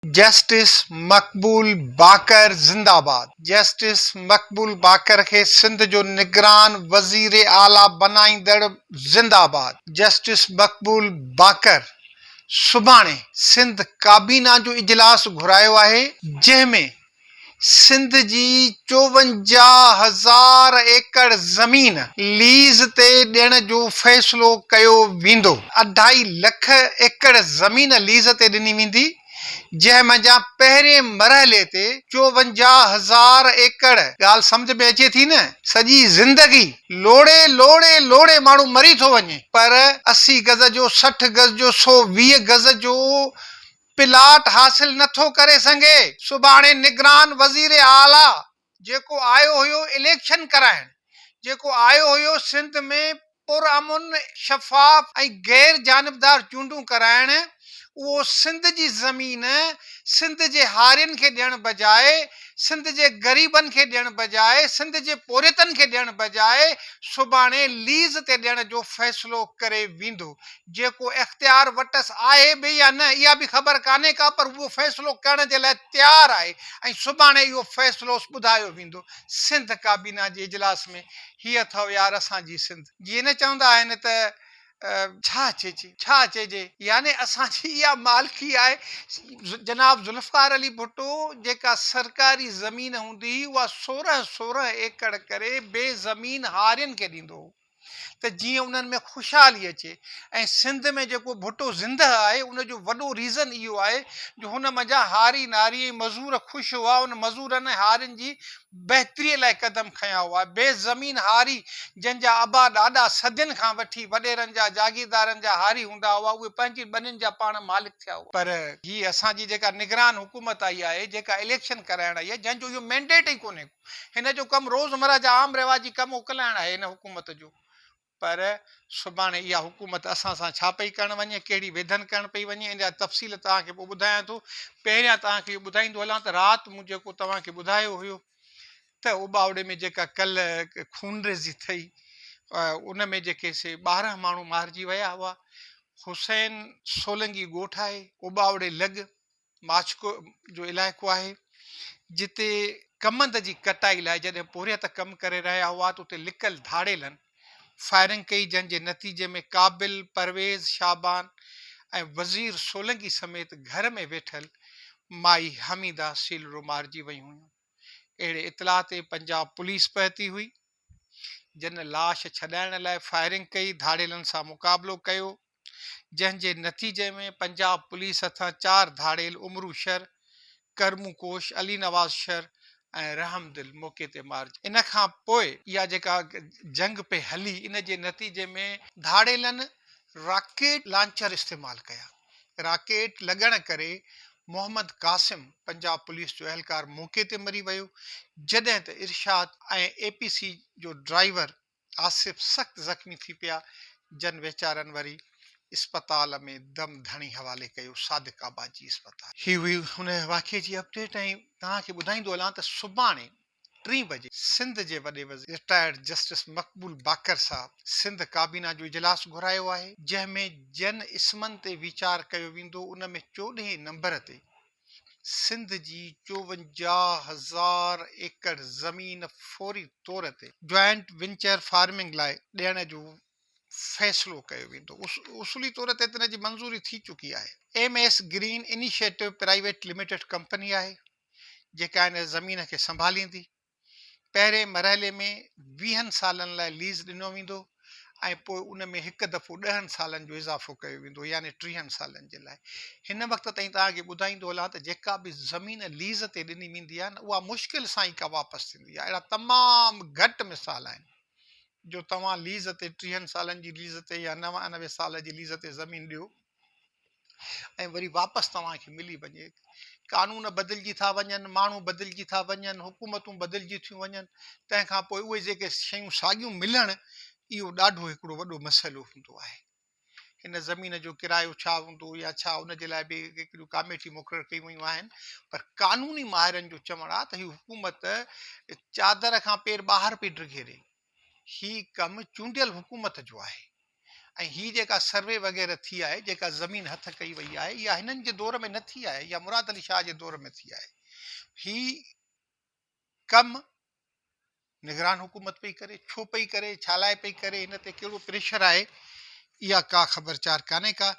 Justice Maqbool Baqar زنده باد justice Maqbool Baqar کي سنڌ جو نگران وزير اعليٰ بنائيندڙ زنده باد جسٽس مقبول باقر سڀاڻي سنڌ ڪابينا جو اجلاس گهرايو آهي جنهن ۾ سنڌ جي چوونجاهه هزار ايڪڙ زمين ليز تي ڏيڻ جو فيصلو ڪيو ويندو، اڍائي لک ايڪڙ زمين ليز تي ڏني ويندي، جنهن منجهان پهرين مرحلي تي چوونجاهه هزار ايڪڙ، ڳالهه سمجهه ۾ اچي ٿي نه، سڄي زندگي لوڙهي لوڙهي لوڙهي ماڻهو مري ٿو وڃي پر اسي گز جو سٺ گز جو سؤ ويهه گز جو پلاٽ حاصل نه ٿو ڪري سگهي. سڀاڻي نگران وزير اعليٰ جيڪو آيو هيو اليڪشن ڪرائڻ، جيڪو آيو هيو سنڌ ۾ پرامن، شفاف ۽ غير جانبدار چونڊون ڪرائڻ، اهو سنڌ جي زمين سنڌ جي هارين کي ڏيڻ بجاء، سنڌ جي غريبن کي ڏيڻ بجاء، سنڌ جي پورهيتن کي ڏيڻ بجاء سڀاڻي ليز تي ڏيڻ جو فيصلو ڪري ويندو. جيڪو اختيار وٽس آهي به يا نه اها به خبر ڪانهي ڪا پر اهو فيصلو ڪرڻ جي لاء تيار آهي ۽ سڀاڻي اهو فيصلو ٻڌايو ويندو. سنڌ ڪابينا جي اجلاس ۾ هي اٿئو يار اسان جي سنڌ جيئن نه چوندا آهن ته. ڇا چئجي ڇا چئجي يعني اسان جي اها مالڪي آهي. جناب ذوالفقار علي ڀٽو جيڪا سرڪاري زمين هوندي هئي اها سورهن سورهن ايڪڙ ڪري بي زمين هارين کي ڏيندو هو. ته جيئن انهن ۾ خوشحالي اچي ۽ سنڌ ۾ جيڪو ڀٽو زندهه آهي ان جو وڏو ريزن اهو آهي جو هن منجهان هاري ناري ۽ مزور خوش هئا ان مزورن ۽ هارين جي بهتري لاء قدم کنيا هئا بي زمين هاري جن جا ابا ڏاڏا صدين کان وٺي وڏيرن جا جاگيردارن جا هاري هوندا هئا اهي پنهنجي ٻنين جا پاڻ مالڪ ٿيا هئا. پر هي اسان جي جيڪا نگران حڪومت آئي آهي جيڪا اليڪشن ڪرائڻ آئي آهي جنهن جو اهو مينڊيٽ ئي ڪونهي ڪو. هن جو ڪم روزمره جا عام رواجي ڪم اڪلائڻ آهي هن حڪومت جو پر سڀاڻي اها حڪومت اسان سان ڇا پئي ڪرڻ وڃي ڪهڙي ويڌن ڪرڻ پئي وڃي ان جا تفصيل توهان کي پوء ٻڌايان ٿو پهريان توهان کي اهو ٻڌائيندو هلان ته رات مون جيڪو توهان کي ٻڌايو هيو ته اوٻاوڙي ۾ جيڪا ڪل خونريزي ٿئي ان ۾ جيڪي سي ٻارهن ماڻهو مارجي ويا هئا حسين سولنگي ڳوٺ آهي اوٻاوڙي لڳ ماڇڪو جو علائقو آهي جتي ڪمند جي ڪٽائي لاء جڏهن پورهيت ڪم ڪري رهيا هئا ته اتي لڪل ڌاڙيلن فائرنگ ڪئي جنهن جي نتيجي ۾ قابل، پرويز، شعبان ۽ وزير سولنگي سميت گهر ۾ ويٺل مائي حميده سيلرو مارجي ويون هيون. اهڙي اطلاع تي پنجاب پوليس پهتي هئي جنھن لاش ڇڏائڻ لاء فائرنگ ڪئي ڌاڙيلن سان مقابلو ڪيو جنهن جي نتيجي ۾ پنجاب پوليس هٿان چار ڌاڙيل عمرو شر، ڪرمون ڪوش، علي نواز شر ۽ رحم دل موقعي تي مارجي ان کان پوء اها جيڪا جنگ پئي هلي ان جي نتيجي ۾ ڌاڙيلن راڪيٽ لانچر استعمال ڪيا راڪيٽ لڳڻ ڪري محمد قاسم پنجاب پوليس جو اهلڪار موقعي تي مري ويو جڏهن ته ارشاد ۽ اي پي سي جو ڊرائيور آصف سخت زخمي ٿي پيا جن ويچارن وري اسپتال ۾ دم ڌڻي حوالي ڪيو صادق آباد جي اسپتال. هي هئي ان واقعي جي اپڊيٽ ۽ توهان کي ٻڌائيندو هلان ته سڀاڻي ٽين بجي سنڌ جي وڏي وزير رٽائرڊ جسٽس مقبول باقر صاحب سنڌ ڪابينا جو اجلاس گهرايو آهي جنهن ۾ جن اسمن تي ويچار ڪيو ويندو ان ۾ چوڏهين نمبر تي سنڌ جي چوونجاهه هزار ايڪڙ زمين فوري طور تي جوائنٽ وينچر فارمنگ لاء ڏيڻ جو فيصلو ڪيو ويندو، اصولي طور تي ته ان جي منظوري ٿي چڪي آهي. M S green initiative private limited company آهي، جيڪا ان زمين کي سنڀاليندي. پهرين مرحلي ۾ ويهن سالن لاء ليز ڏنو ويندو ۽ پوء ان ۾ هڪ دفعو ڏهن سالن جو اضافو ڪيو ويندو يعني ٽيهن سالن جي لاء. هن وقت تائين توهان کي ٻڌائيندو هلان ته جيڪا به زمين ليز تي ڏني ويندي آهي نه اها مشڪل سان ئي ڪا واپس ٿيندي آهي اهڙا تمام گهٽ مثال آهن جو توهان ليز تي ٽيهن سالن جي ليز تي يا نوانوي سال جي ليز تي زمين ڏيو ۽ وري واپس توهان کي ملي وڃي. قانون بدلجي ٿا وڃن، ماڻهو بدلجي ٿا وڃن، حڪومتون بدلجي ٿيون وڃن، تنهن کان پوء اهي جيڪي شيون ساڳيون ملڻ، اهو ڏاڍو هڪڙو وڏو مسئلو هوندو آهي. هن زمين جو ڪرايو ڇا هوندو يا ڇا ان جي لاء به هڪڙيون ڪاميٽيون مقرر ڪيون ويون آهن، پر قانوني ماهرن جو چوڻ آهي ته هي حڪومت چادر کان پير ٻاهر پئي ڊگهي ڏئي. هي ڪم چونڊيل حڪومت جو آهي ۽ هي جيڪا سروي وغيره ٿي آهي، جيڪا زمين هٿ ڪئي وئي آهي، اها هنن جي دور ۾ نه ٿي آهي، اها مراد علي شاهه جي دور ۾ ٿي آهي. هي ڪم نگران حڪومت پئي ڪري، ڇو پئي ڪري، ڇا لاء پئي ڪري، هن تي ڪهڙو پريشر آهي، اها ڪا خبر چار ڪانهي ڪا.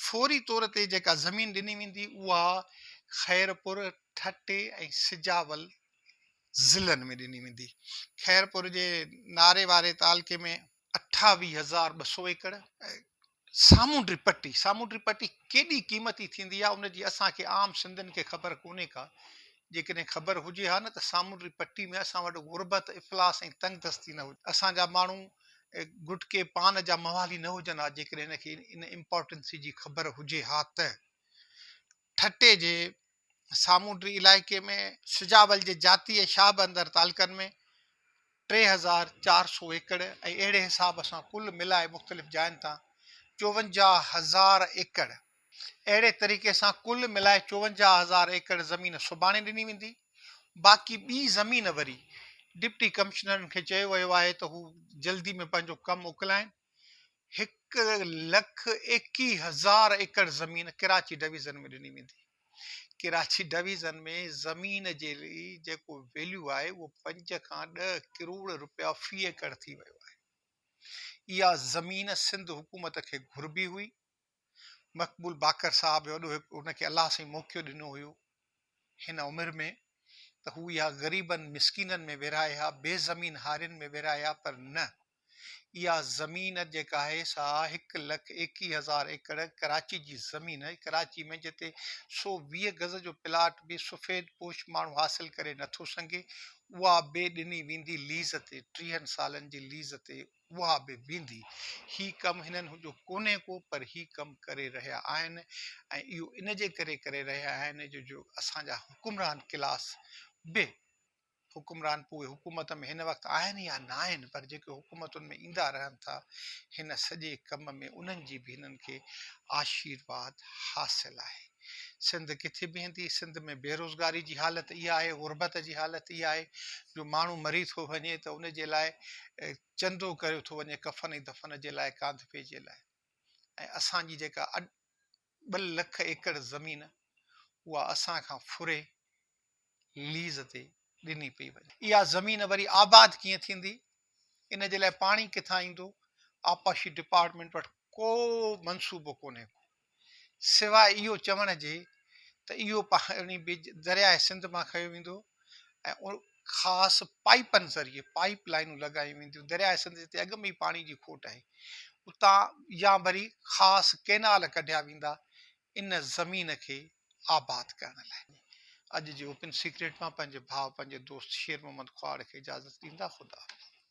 فوري طور تي جيڪا زمين ڏني ويندي، اها خيرپور، ٺٽي ۽ سجاول ضلعن ۾ ڏني ويندي. خيرپور جي ناري واري تعلقي ۾ اٺاويهه هزار ٻه سؤ ايڪڙ ۽ سامونڊي پٽي، سامونڊي پٽي ڪيڏي قيمتي ٿيندي آهي ان جي اسان کي عام سنڌين کي خبر ڪونهي ڪا، جيڪڏهن خبر هجي ها نه ته سامونڊي پٽي ۾ اسان وٽ غربت، افلاس ۽ تنگ دستي نه هجي، اسان جا ماڻهو گٽڪي پان جا موالي نه هجن ها جيڪڏهن هن کي ان امپارٽنسي جي خبر هجي ها ته. ٺٽي جي سامونڊي علائقي ۾، سجاول جي جاتيء شاهه بندر تعلقن ۾، ٽي هزار چار سؤ ايڪڙ ۽ اهڙي حساب سان ڪل ملائي مختلف جاين تان چوونجاهه هزار ايڪڙ اهڙي طريقي سان ڪل ملائي چوونجاهه هزار ايڪڙ زمين سڀاڻي ڏني ويندي باقي ٻي زمين وري ڊپٽي ڪمشنرن کي چيو ويو آهي ته هو جلدي ۾ پنهنجو ڪم اڪلائين. هڪ لک ايڪيهه هزار ايڪڙ زمين ڪراچي ڊويزن ۾ ڏني ويندي، ڪراچي ڊويزن ۾ زمين جي جيڪو ويليو آهي اهو پنج کان ڏهه ڪروڙ رپيا في ايڪڙ ٿي ويو آهي، اها زمين سنڌ حڪومت کي گهربي هئي، مقبول باقر صاحب وڏو هڪ هن کي الله سائين موقعو ڏنو هيو هن عمر ۾ ته هو اها غريبن مسڪينن ۾ ورهائي ها بي زمين هارين ۾ ورهائي ها پر نه اها زمين جيڪا آهي سا هڪ لک ايڪيهه هزار ايڪڙ ڪراچي جي زمين آهي ڪراچي ۾ جتي سو ويهه گز جو پلاٽ به سفيد پوش ماڻهو حاصل ڪري نٿو سنگهي اها به ڏني ويندي ليز تي ٽيهن سالن جي ليز تي اها به ويندي. هي ڪم هنن جو ڪونهي ڪو پر هي ڪم ڪري رهيا آهن ۽ اهو ان جي ڪري ڪري رهيا آهن جو جو اسان جا حڪمران ڪلاس به حڪمران پوء اهي حڪومت ۾ هن وقت آهن يا ناهن پر جيڪي حڪومتن ۾ ايندا رهن ٿا هن سڄي ڪم ۾ انهن جي به هنن کي آشيرواد حاصل آهي. سنڌ ڪٿي بيهندي، سنڌ ۾ بيروزگاري جي حالت اها آهي، غربت جي حالت اها آهي جو ماڻهو مري ٿو وڃي ته ان جي لاء چندو ڪريو ٿو وڃي ڪفن ۽ دفن جي لاء ڪانڌپي جي لاء ۽ اسان جي جيڪا ٻه لک ايڪڙ زمين اها اسان کان ڦري ليز تي ڏني پئي وڃي. اها زمين وري آباد ڪيئن ٿيندي ان جي لاء پاڻي ڪٿان ايندو، آبپاشي ڊپارٽمينٽ وٽ ڪو منصوبو ڪونهي ڪو سواء اهو چوڻ جي ته اهو پاڻي به درياء سنڌ مان کنيو ويندو ۽ خاص پائيپن ذريعي پائيپ لائينون لڳايون وينديون، درياء سنڌ جتي اڳ ۾ ئي پاڻي جي کوٽ آهي اتان يا وري خاص ڪئنال ڪڍيا ويندا ان زمين کي آباد ڪرڻ لاء. اڄ جي اوپن سيڪريٽ مان پنهنجي ڀاء پنهنجي دوست شير محمد ڪهاڙ کي اجازت ڏيندا خدا حافظ.